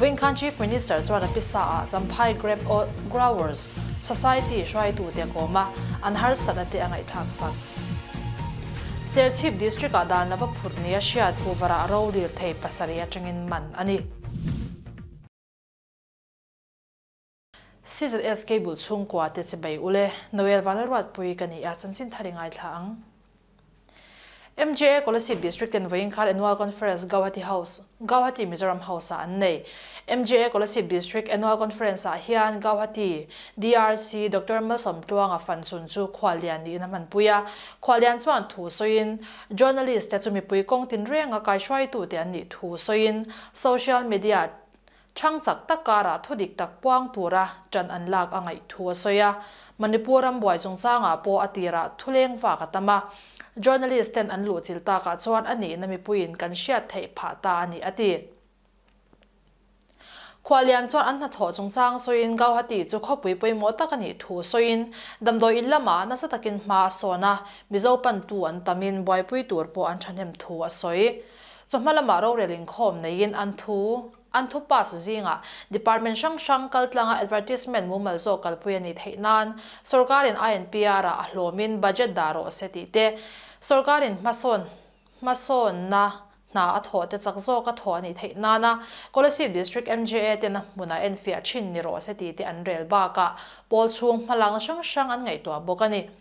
Vawinkhanh Chief Minister chuan a pisa ah Champhai Grape Growers Society hruaitu te kawm a an harsat a te a ngaihthlak sak. Serchhip District ah dan lova phut ni a hriat Puvar ah ro lir thei pasarih atangin man a ni. CZSK bul chhungkua te che bei ule, Noel va Lalruatpui ka ni a, chanchin thar i ngaithla ang. MJA Kolasib District ten vawiin khar Annual Conference Gauhati House, Gauhati Mizoram House ah an nei. MJA Kolasib District Annual Conference ah hian Gauhati, DRC, Doctor Malsawmtluanga fan chhun chu Khua Lian niin a hmanpui a. Khua Lian chuan thu sawiin Journalist te chu mipui kawng tinreng a kaihruaitute an nih thu sawiin Social Media Chhang chak tak karah thudik tak puang tura ṭan an lak a ngaih thu a sawi a. Manipur ram buai chungchangah pawh a tirah thuleng vak a tam a. Journalist ten an luh chil takah chuan a nihna mipuiin kan hriat theih phah ta a ni a ti. Khua Lian chuan an hnathawh chungchang sawiin Gauhati chu khawpui pawimawh tak a nih thu sawiin damdawi in lamah nasa takin hma a sawn a, Mizo pantu an tamin buaipui tur pawh an ṭhahnem thu a sawi. Chu hma lamah rorel inkhawm neiin an thu an thu pass zingah department hrang hrang kal tlanga advertisement mumal zawk kalpui a nih theih nan sorkarin INPR ah a hlawmin budget dah rawh se tih te, sorkarin hmasawn hmasawnna hna a thawh te chak zawk a thawh a nih theih nana Kolasib District MJA tena hmun a enfiah thin ni rawh se tih te an rel bakah pawl chhung hmalang hrang hrang an ngaihtuah bawk a ni.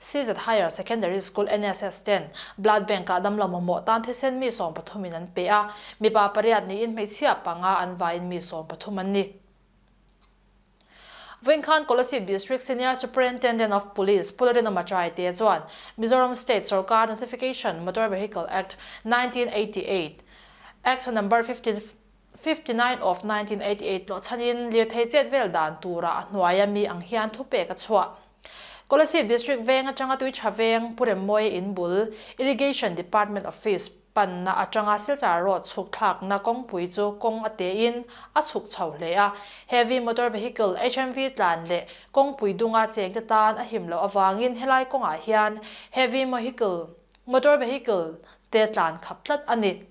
CZ Higher Secondary School NSS ten Blood Bank ah damlo mamawh tan thisen mi sawm pathum in an pe a, mipa pariat niin hmeichhia panga an vaiin mi sawm pathum an ni. Vawinkhân Kolasib District Senior Superintendent of Police Pu Larinawma Chai te chuan Mizoram State Sorkar Notification, Motor Vehicle Act, nineteen eighty eight, Act number fifteen, Fifty nine of nineteen eighty eight tlawhchhanin lirthei chet vel dan tura a hnuai a mi ang hian thupek a chhuah. Kolasib District veng atanga Tuitha veng Puremawii in bul Irrigation Department Office panna atanga Silchar Road chhukthlakna kawngpui chu kawng a tein a chhuk chho hle a, Heavy Motor Vehicle, HMV, tlan leh kawngpui dunga chengte tan a him loh avangin helai kawngah hian Heavy Mohicle, Motor Vehicle, te tlan khap tlat a ni.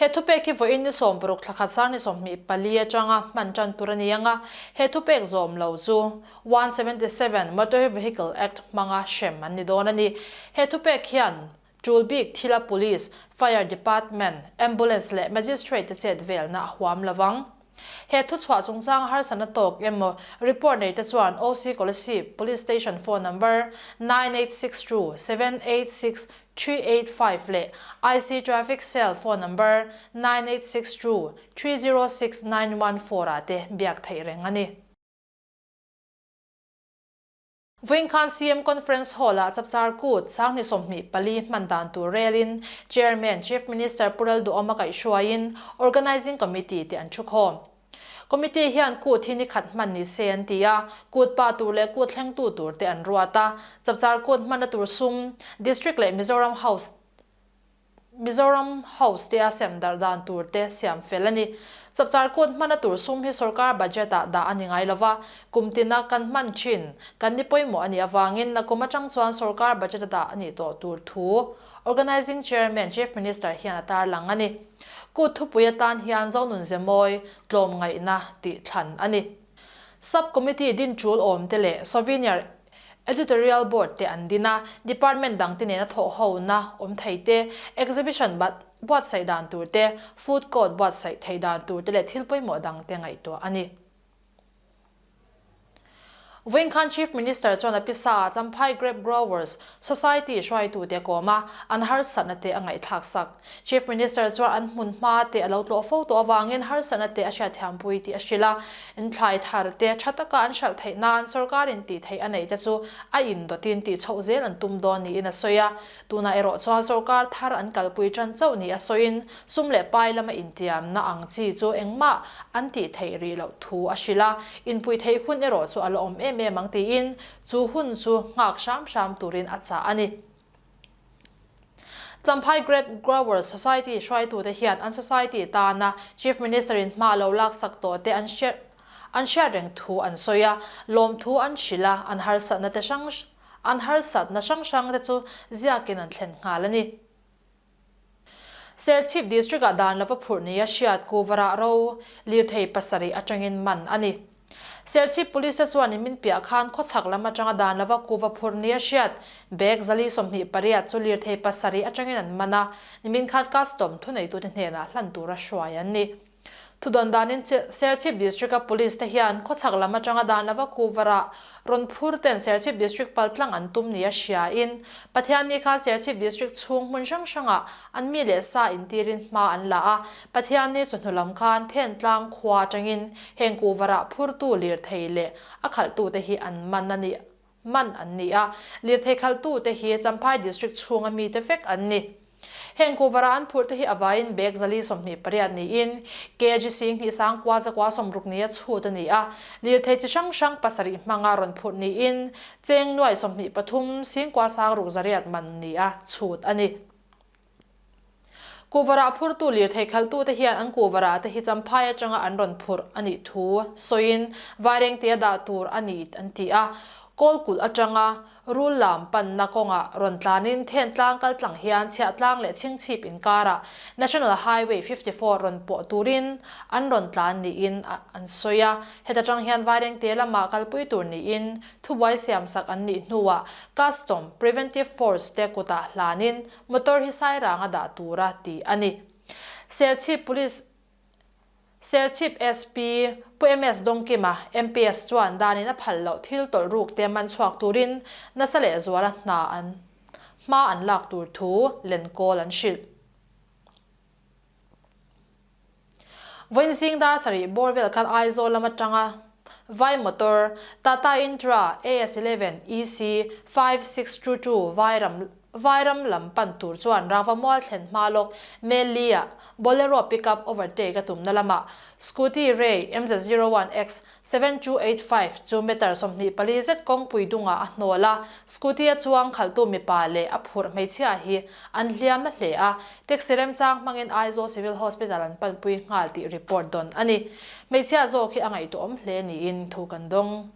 He thupek hi vawiin ni sawm paruk thla khat sar ni sawm hmih pali atanga hman tan tur a ni anga he thupek zawm lo chu one seventy seven Motor Vehicle Act hmanga hrem an ni dawn a ni. He thupek hian tul bik thila Police, Fire Department, Ambulance leh Magistrate te chetvelna a huam lo vang. He thuchhuah chungchanga harsatna tawk emaw report nei te chuan OC Kolasib Police Station phone number nine eight six two seven eight six three eight five leh IC Traffic Cell phone number nine eight six two three zero six nine one four ah te biak theih reng a ni. Vawinkhân CM Conference Hall-ah chapchar kût, Sanghnih sawmhnih pali hman dan tûr rêlin Chairman, Chief Minister Pu Ralduawm a kaih hruaiin Organising Committee tih an ṭhu khâwm. Committee hian kût hi nikhat hman ni se an ti a, kût pah tûr leh kût thlengtu tûr te an ruat a. Chapchar kût hmanna tûr sum District leh Mizoram House Mizoram House te a sem darh dan tur te siam fel a ni. Chapchar kut hman a tur sum hi sorkar budget ah dah a ni ngai lova, kum tin a kan hman thin, kan ni pawimawh a nih avangin a kum atang chuan sorkar budget a dah a nih tawh tur thu Organising Chairman, Chief Minister hian a tarlang a ni. Kut thupui atan hian Zonunzemawi tlawm ngaihna tih thlan a ni. Sub Committee din tul awm te leh Souvenir. Editorial Board te an din a, Department dang te nena thawhhona awm thei te, Exhibition bat buatsaih dan tur te, Food Court buatsaih theih dan tur te leh thil pawimawh dang te ngaihtuah a ni. Vawin khan Chief Minister chuan a pisa ah Champhai Grape Growers, Society hruaitu te kawma an harsatna te a ngaihthlak sak. Chief Minister chuan an hmun hma te a lo tlawh fo tawh avangin harsatna te a hriatthiampui tih a hrilh a. Inthlai thar te tha taka an hralh theih nan sorkarin tih theih a neih te chu a in dawtin tih chhoh zel an tum dawn niin a sawi a. Tunah erawh chuan sorkar thar an kalpui tan chauh nih a sawiin sum leh pai lama intiamna ang chi chu engmah an tih theih rih loh thu a hrilh a. Inpuitheih hun erawh chu a la awm em em ang tiin Chu hun chu nghak hram hram turin a chah a ni. Champhai Grape Growers Society hruaitute hian an society tana Chief Minister in hma lo laksak tawhte an hriat an hriat reng thu an sawi a, lawmthu an hrilh a, an harsatnate hrang an harsatna hrang hrangte chu ziakin an thlen nghal a ni. Serchhip District-ah dan lova phurh neia hriat Kuvara ro lirthei pasarih atangin man a ni. Serchhip Police-a chuan inmin piah khan khawchhak lam atanga dan lova kuva phurh neia hriat bag zali sawmhnih pariat chu lirthei pasarih atangin an man a, nimin khan custom thuneitu te hnenah hlan tura hruai an ni. Thu dawn danin Serchhip District-a Police te hian khawchhak lam atanga dan lova Kuvara rawn phur ten Serchhip District paltlang an tum nih a hriain Pathian ni khan Serchhip District chhung hmun hrang hranga an mi leh sa intirin hma an la a. Pathian ni chu hnulam khan then tlang khua atangin heng Kuvara phurtu lirthei leh a khalhtute hi an man a ni. hman an ni a, lirthei khalhtute hi Champhai District chhunga mite vek an ni. Heng Kuhvara an phurhte hi a vaiin bag zali sawmhnih pariat niin KG Sing hnih sang kua zakua sawmruknia chhut a ni a, lirthei chi hrang hrang pasarih hmanga rawn phurh niin cheng nuai sawmhnih pathum sing kua sang ruk zariat man nia chhut a ni. Kuhvarah phurtu lirthei khalhtute hian an kuhvarah te hi champhai atanga an rawn phurh a nih thu sawiin vaireng tia dah tur a ni an ti a. Kawl kulh atanga rul lam panna kawnga rawn tlanin then tlang kal tlang hian chhiah tlang leh chhingchhip inkarah National Highway fifty four rawn pawh turin an rawn tlan niin an sawi a. Heta tang hian vaireng tia lama kalpui tur niin thubuai siamsak an nih hnuah Custom, Preventive Force te kutah hlanin Motor hi Sairanga dah tur a ti a ni. Serchhip Police Serchhip SP Pu MS Dongkima MPS chuan danin a phal loh thil tawlh ruk te man chhuak turin nasa leh zuala hna an hma an lak tur thu len kawl an hrilh. Vawiin zingdar sarih bawr vel khan Aizawl lam atanga vai motor Tata Intra AS eleven EC five six two two vai ram vai ram lam pan tur chuan rangva mual thlen hma lawk Melli-ah Bolero pickup overtake a tumna lamah Scooty Ray MZ zero one X Seven two eight five chu meter sawmhnih pali zet kawngpui dungah a hnawl a, scooty a chuang khalhtu mipa leh a phurh hmeichhia hi an hliam na hle a, taxi remchang hmangin Aizawl Civil Hospital an panpui nghal tih report dawn a ni. Hmeichhia zawk hi a ngaihtuawm hle niin thu kan dawng.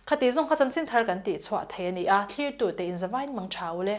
Khati zawng kha chanchin thar kan tih chhuah thei a ni a, thlirtute in zavain mang tha u le.